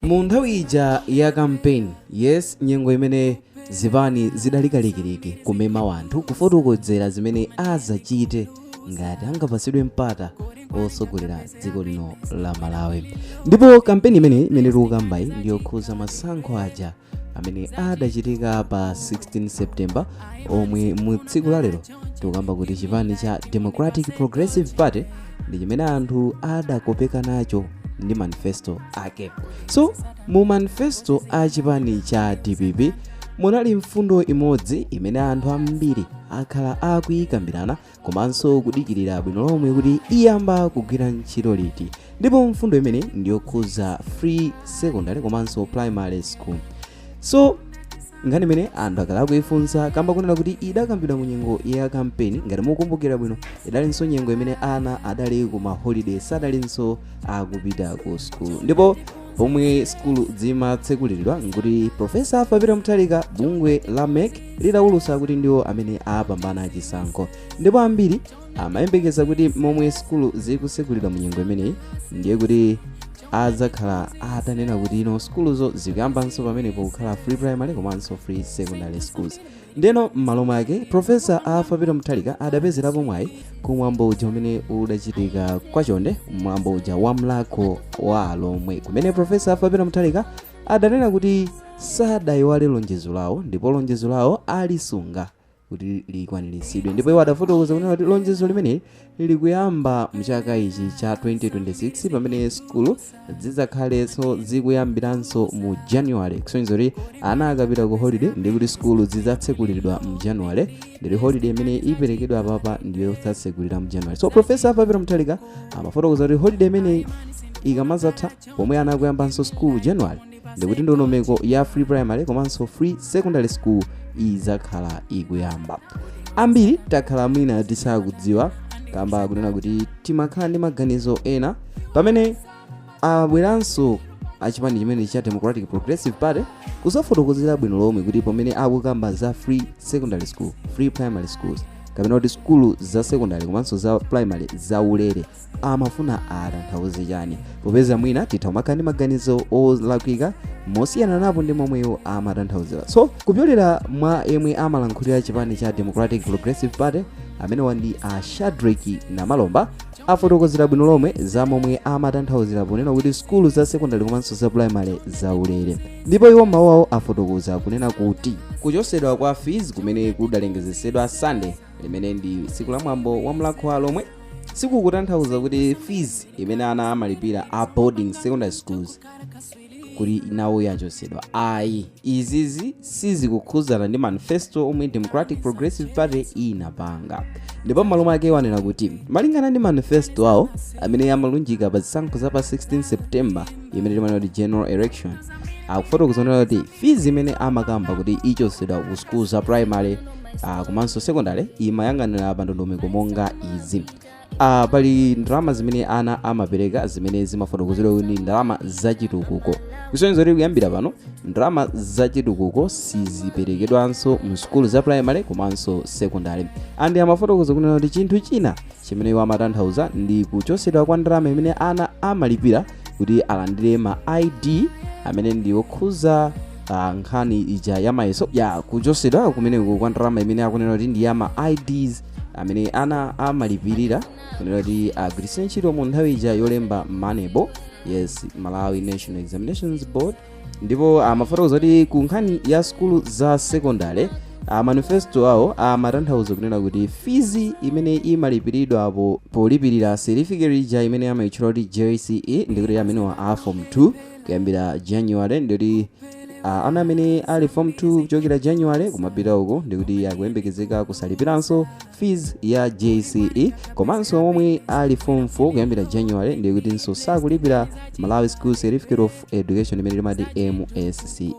Mu nthawi ija ya campaign yes nyengo imene zipani zidali kalikiliki kumema wanthu kufotokodzera zimene azachite ngati angapasidwe mpata osogolera dziko lino la Malawi ndipo kampeni imeneyi imene tikukambayi ndiyokhuza masankho aja amene adachitika pa 16 September omwe mu tsiku la lero tikukamba kuti chipani cha democratic progressive party ndi chimene anthu adakopeka nacho ndi manifesto ake so mu manifesto a chipani cha dpp munali mfundo imodzi imene anthu ambiri akhala akuyikambirana komanso kudikirira bwino lomwe kuti iyamba kugwira ntchito liti ndipo mfundo imene ndiyokhuza free secondary komanso primary school so nkhani imene anthu akhala akuifunsa kamba kunena kuti idakambidwa mu nyengo ya kampeni ngati mukumbukira bwino idalinso nyengo imene ana adali ku maholiday sadalinso akupita ku skulu ndipo pomwe skulu zimatsekulidwa nkuti profesa Arthur Peter Mutharika bungwe la mec lidawulutsa kuti ndiwo amene apambana chisankho ndipo ambiri amayembekeza kuti momwe skulu zikutsegulidwa mu nyengo imeneyi ndiye kuti adzakhala atanena kuti ino sukuluzo zikuyambanso pamenepo kukhala free primary komanso free secondary schools ndeno m'malo mwake profesa Arthur Peter Mutharika adapezerapo mwayi ku mwambo uja umene udachitika kwa Chonde mwambo uja wa Mulhako wa Alhomwe kumene profesa Arthur Peter Mutharika adanena kuti sadayiwale lonjezo lawo ndipo lonjezo lawo alisunga kuti likwaniritsidwe ndipo iwo adafotokoza kunena kuti lonjezo limeneli likuyamba mchaka ichi cha 2026 pamene sukulu zidzakhalenso zikuyambiranso mu january kusonyeza kuti ana akapita ku holiday ndi kuti sukulu zidzatsekulidwa mu january ndi holiday imene iperekedwa apapa ndiyo idzatsekulira mu january so profesa Arthur Peter Mutharika amafotokoza kuti holiday imeneyi ikamazatha pomwe ana akuyambanso sukulu january ndikuti ndondomeko ya free primary komanso free secondary school idzakhala ikuyamba ambiri takhala mwina tisakudziwa kamba kunena kuti timakhala ndi maganizo ena pamene abweranso achipani chimene cha democratic progressive party kuzafotokozera bwino lomwe kuti pamene akukamba za free secondary school free primary schools kapena kuti sukulu za secondary komanso za primary za ulere amafuna atanthauze chani popeza mwina titha kumakhala ndi maganizo olakwika mosiyana napo ndi momwe iwo amatanthauzira so kupyolera mwa yemwe amalankhulira chipani cha democratic progressive party amenewa ndi a Shadric Namalomba afotokozera bwino lomwe za momwe amatanthauzira ponena kuti sukulu za sekondari komanso za primary zaulere ndipo iwo m'mawu awo afotokoza kunena kuti kuchosedwa kwa fees kumene kudalengezesedwa sunday limene ndi tsiku la mwambo wa Mulhako wa Alhomwe sikukutanthauza kuti fees imene ana amalipira a boarding secondary schools kuti nawo yachotsedwa ayi izizi sizikukhudzana ndi manifesto omwe democratic progressive party inapanga ndipo m'malo mwake wanena kuti malingana ndi manifesto awo amene amalunjika pa zisankho za pa 16 september imene timanena kuti general election akufotokoza kuti fees imene amakamba kuti ichotsedwa ku school za primary uh, komanso secondary imayang'anira pa ndondomeko monga izi uh, pali ndalama zimene ana amapereka zimene zimafotokozedwa kuti ndi ndalama zachitukuko kusonyeza kuti kuyambira pano ndalama zachitukuko siziperekedwanso mu sukulu za primary komanso secondary andi amafotokoza kunena kuti chinthu china chimene iwo amatanthauza ndi kuchotsedwa kwa ndalama imene ana amalipira kuti alandire ma id amene ndi okhuza ah, nkhani ija ya mayeso ya kuchosedwa kumeneko kwa ndalama imene akunena kuti ndi ya ma ids amene ana amalipirira kunena kuti agwiritse ntchito mu nthawi ija yolemba MANEB yes malawi national examinations board ndipo amafotokoza kuti ku nkhani ya sukulu za sekondale a manifesto awo amatanthauza kunena kuti fees imene imalipiridwa po- polipirira certificate ija imene amayitchula kuti jce ndikuti amenewa a form 2 kuyambira january ndikuti a ana amene ali form 2 kuchokera january kumapita uko ndikuti akuyembekezeka kusalipiranso fees ya jce komanso omwe ali form 4 kuyambira january ndikutinso sakulipira malawi school certificate of education imene timati msce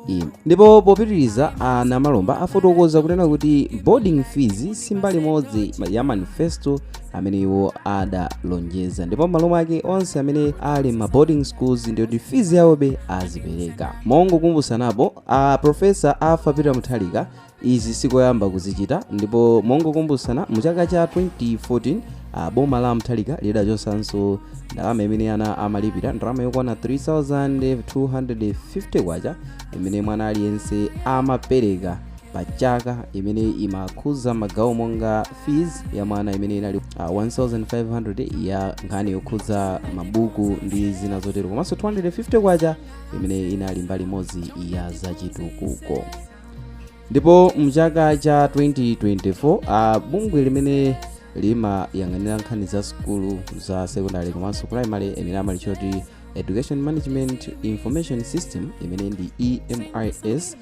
ndipo popitiriza a namalomba afotokoza kunena kuti boarding fees si mbali imodzi ya manifesto amene iwo adalonjeza ndipo m'malo mwake onse amene ali m'ma boarding schools ndiyoti fees yawobe azipereka mongokumbutsanapo a profesa Arthur Peter Mutharika Izi sikoyamba kuzichita ndipo mongokumbutsana mu chaka cha 2014 a boma la Mutharika lidachotsanso ndalama imene ana amalipira ndalama yokwana 3250 kwacha imene mwana aliyense amapereka pa chaka imene imakhudza magawo monga fees ya mwana imene inali uh, 1500 ya nkhani yokhudza mabuku ndi zina zotero komanso 250 kwacha imene inali mbali imodzi ya zachitukuko ndipo mchaka cha 2024 a bungwe limene limayang'anira nkhani za sukulu za secondary komanso primary imene amalitcha kuti education management information system imene ndi emis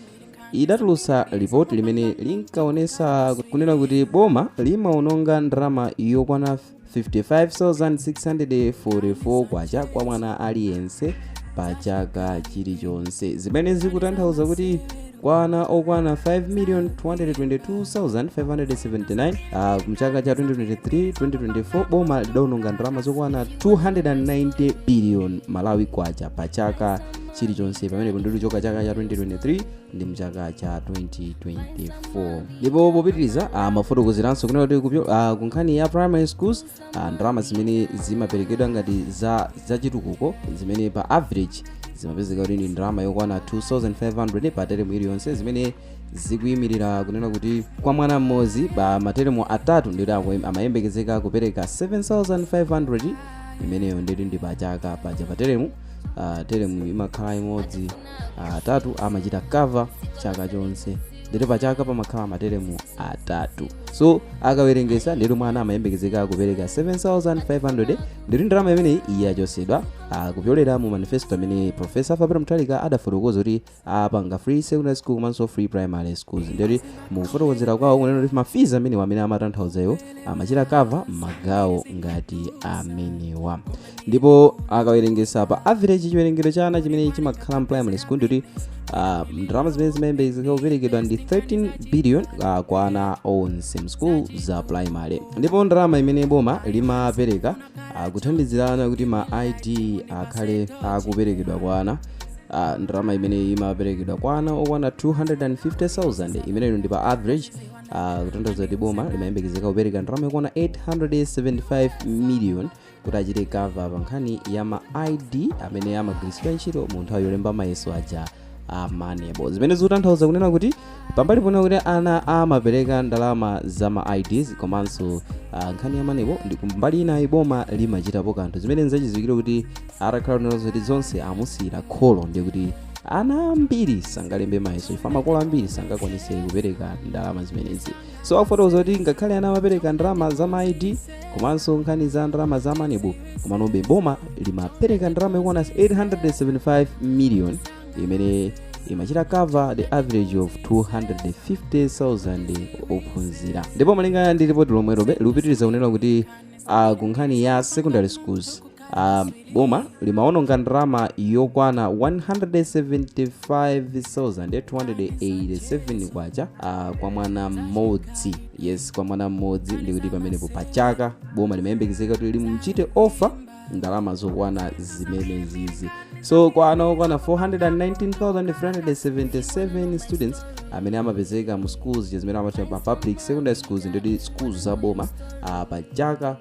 idatulutsa lipoti limene linkaonesa kunena kuti boma limaononga ndalama yokwana 55,644 kwacha kwa mwana aliyense pa chaka chilichonse zimene zikutanthauza kuti kwa ana okwana 5,222,579 uh, mchaka cha 2023-2024 boma lidaononga ndalama zokwana 290 billion malawi kwacha pa chaka chilichonse pamene kundiluchoka chaka cha 2023 ndi mchaka cha 2024 ndipo popitiriza amafotokozeranso kunena kuti kupyo- ah, ku nkhani ya primary schools ah, ndalama zimene zimaperekedwa ngati za chitukuko zimene pa average zimapezeka kuti ndi ndalama yokwana 2500 pa teremu iliyonse zimene zikuyimirira kunena kuti kwa mwana mmodzi pa materemu atatu ndikuti akuyem- amayembekezeka kupereka 7500 imeneyo ndikuti ndi pachaka paja pa teremu ah, teremu imakhala imodzi atatu amachita cover chaka chonse ndete pa chaka pamakhala materemu atatu so akawerengesa ndete mwana amayembekezeka kupereka 7500 ndete ndalama imeneyi yachosedwa kupyolera mu manifesto amene profesa mutharika adafotokoza kuti apanga free secondary school komanso free primary schools ndete mukufotokozera kwawo kunena kuti mafiz amenewa amene amatanthauzayo amachita cover magawo ngati amenewa ndipo akawerengesa pa average chiwerengero cha ana chimene chimakhala mprimary school ndikuti ah, ndalama zimene zimayembekezeka kuperekedwa ndi 13 billion ah, kwa ana onse mschool za primary ndipo ndalama imene boma limapereka ah, kuthandizira ana kuti ma id akhale akuperekedwa kwa ana Ah, ndalama imene imaperekedwa kwa ana okwana 250,000 imeneyo ndi pa average ah, kutanthauza kuti boma limayembekezeka kupereka ndalama yokwana 875 million kuti achite cover pa nkhani ya ma id amene amagwiritsidwa ntchito mu nthawi yolemba mayeso aja a manebo zimene zikutanthauza kunena kuti pambali ponena kuti ana amapereka ndalama za ma ids komanso ah, nkhani ya manebo ndiye kumbali inayi boma limachitapo kanthu zimene nzachidziwikire kuti atakhala kunena zoti zonse amusiyira kholo ndiye kuti ana ambiri sangalembe mayeso chifukwa makolo ambiri sangakwanise kupereka ndalama zimenezi so akufotokoza kuti ngakhale ana amapereka ndalama za ma id komanso nkhani za ndalama za manebo komanobe boma limapereka ndalama yokwana 875 million imene imachita cover the average of 250,000 ophunzira ndipo malingana ndi ripoti lomwelobe likupitiriza kunena kuti uh, ku nkhani ya secondary schools Uh, boma limaononga ndalama yokwana 175,287 kwacha uh, kwa mwana mmodzi yes kwa mwana mmodzi ndikuti pamenepo pa chaka boma limayembekezeka kuti limuchite offer ndalama zokwana zimenezizi so kwa ana okwana 419,377 students amene amapezeka mu schools zimene amatchula pa public secondary schools ndikuti schools za boma uh, pa chaka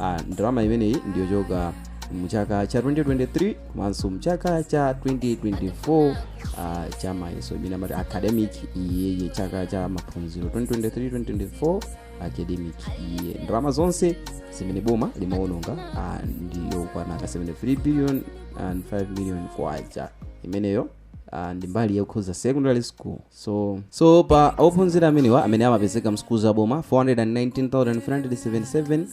ah, ndalama imeneyi ndiyochoka mchaka cha 2023 komanso mchaka cha 2024 ah, cha mayeso imene amati academic year chaka cha maphunziro 2023-2024 academic year ndalama zonse zimene boma limaononga ah, ndiyokwana 73 billion and 5 million kwacha imeneyo Uh, ndi mbali yokhuza secondary school so so pa ophunzira amenewa amene amapezeka msukulu za boma 419377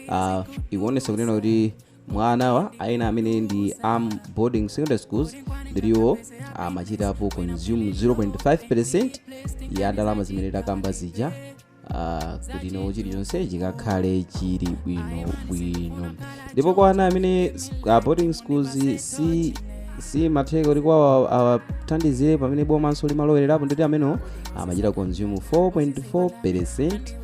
uh, ikuonesa kunena kuti mwa anawa ana amene ndi am boarding secondary schools ndiwo amachitapo consume 0.5 percent ya ndalama zimene takamba zija ah, kuti no chilichonse chikakhale chili bwino bwino ndipo kwa ana amene s- ah, boarding schools si simatheka kuti kwawo awathandizire pamene bomanso limalowererapo ndiwo amene amachita consume 4.4 percent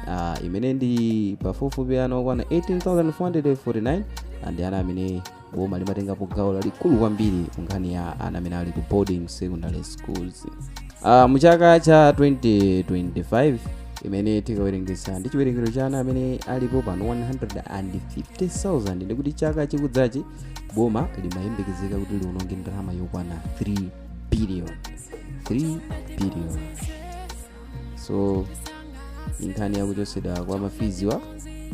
ah, imene ndi pafupifupi ana okwana 18449 and ana amene boma limatengapo gawo lalikulu kwambiri ku nkhani ya ana amene ali ku boarding secondary schools uh, mu chaka cha 2025 imene tikawerengetsa ndi chiwerengero cha ana amene alipo pano 150,000 ndikuti chaka chikudzachi boma limayembekezeka kuti liwononge ndalama yokwana 3 billion 3 billion so nkhani yakuchotsedwa kwa mafiziwa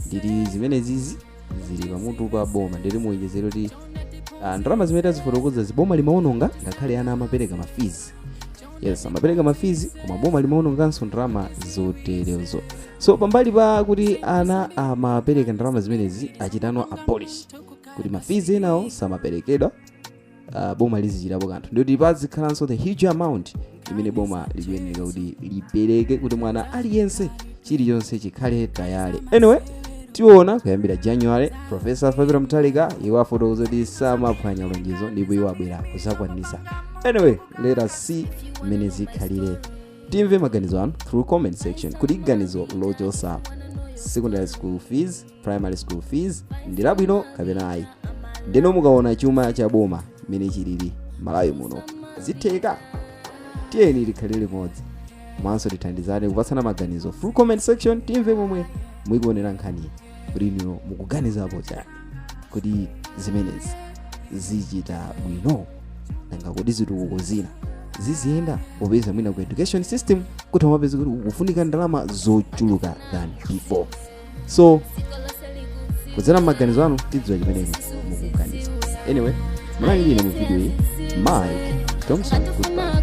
ndili zimenezizi zili pamutu pa boma ndili muwonjezero kuti ah, ndalama zimene tazifotokozazi boma limaononga ngakhale ana amapereka mafizi yes amapereka mafizi koma boma limaononganso ndalama zoterezo so pambali pa kuti ana amapereka ndalama zimenezi achita no abolish kuti mafizi enawo samaperekedwa uh, boma lizichitapo kanthu ndikuti pazikhalanso the huge amount imene boma likuyeneka kuti lipereke kuti mwana aliyense chilichonse chikhale tayale anyway tiona kuyambira january profesa arthur mutharika iwo afotokoza kuti samaphwanya lonjezo ndipo iwo abwera kuzakwanisa anyway let us see mmene zikhalire timve maganizo anu through comment section kuti ganizo lochosa secondary school fees primary school fees ndi labwino kapena ayi ndeno mukaona chuma cha boma mmene chilili malawi muno zitheka tiyeni tikhale limodzi komanso tithandizane kupatsana maganizo through comment section timve momwe mukuionera nkhani kuti inuyo mukuganizapo chani kuti zimenezi zichita bwino nanga kodi zitukuko zina ziziyenda popeza mwina ku education system kuti amapeza kuti kufunika ndalama zochuluka than before so kudzera m'maganizo anu tidziwa chimene inu mukuganiza anyway munali ndine mu video iyi mike thompson goodbye